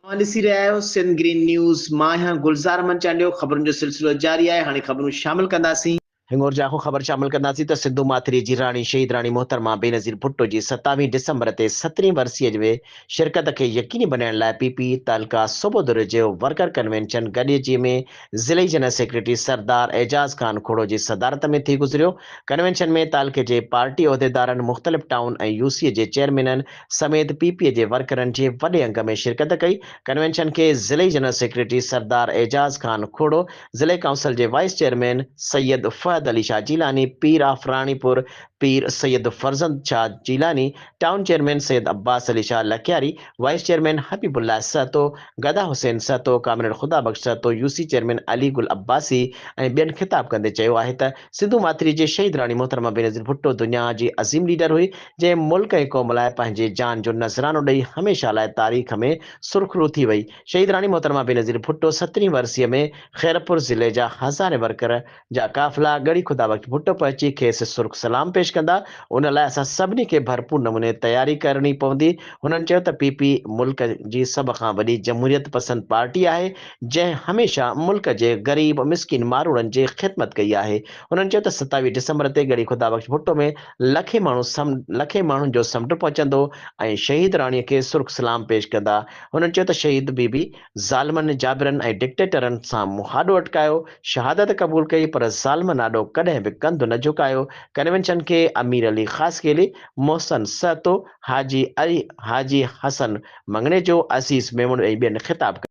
اوهان ڏسي رهيا آهيو سنڌ گرين نيوز مان آهيان گلزار احمد چانڊيو خبرن جو سلسلو جاري آهي هاڻي خبرون شامل ڪنداسين. هينئر جي اهو خبر شامل ڪنداسين ته سنڌو ماٿري جي راڻي شهيد راڻي محترمه بينظير ڀٽو جي ستاويهه ڊسمبر تي سترهين ورسيء ۾ شرڪت کي يقيني بنائڻ لاء پي پي تعلقه صوبو دري جي ورڪر ڪنوينشن گڏجي ۾ ضلعي جنرل سيڪريٽري سردار اعجاز خان کوڙو جي صدارت ۾ ٿي گذريو ڪنوينشن ۾ تعلقي جي پارٽي عهديدارن مختلف ٽائون ۽ يو سي جي چيئرمينن سميت پي پي جي ورڪرن جي وڏي انگ ۾ شرڪت ڪئي، ڪنوينشن کي ضلعي جنرل سيڪريٽري سردار اعجاز خان کوڙو، ضلعي ڪائونسل جي vice chairman Syed Fahad Ali Shah Jilani, Pir of Ranipur Pir Syed Farzand Shah Jilani, town chairman Syed Abbas Ali Shah Lakyari, vice chairman Habibullah Sahto, Gada Hussain Sahto, comrade Khuda Bux Sahto, U C chairman Ali Gul Abbasi ۽ ٻين خطاب ڪندي چيو آهي ته سنڌو ماٿريء جي شهيد راڻي محترمه بينظير ڀٽو دنيا جي عظيم ليڊر هئي، جنهن ملڪ ۽ قوم لاء پنهنجي جان جو نذرانو ڏئي هميشه لاء تاريخ ۾ سرخرو ٿي وئي. شهيد راڻي محترمه بينظير ڀٽو سترهين ورسيء ۾ خيرپور ضلعي جا هزارين ورڪر جا قافلا ڳڙهي خدا بخش ڀٽو پهچي کيس سرخ سلام پيش ڪندا، ان لاء اسان سڀني کي ڀرپور نموني تياري ڪرڻي پوندي. هنن چيو ته پي پي ملڪ جي سڀ کان وڏي جمهوريت پسند پارٽي آهي، جنهن هميشه ملڪ جي غريب مسڪين ماروئڙن جي خدمت ڪئي آهي. هنن چيو ته ستاويهه ڊسمبر تي ڳڙهي خدا بخش ڀٽو ۾ لکين ماڻهو سم لکين ماڻهن جو سمنڊ پهچندو ۽ شهيد راڻي کي سرخ سلام پيش ڪندا. هنن چيو ته شهيد بي بي ظالمن، جابرن ۽ ڊڪٽيٽرن سان منهن آڏو اٽڪايو، شهادت قبول ڪئي پر ظالمن آڏو ڪڏهن به ڪنڌ نه جهڪايو، ڪنوينشن کي امير علي خاصخيلي، محسن سهتو، حاجي علي، حاجي حسن مڱڻيجو، عزيز ميمڻ ۽ ٻين خطاب ڪيو.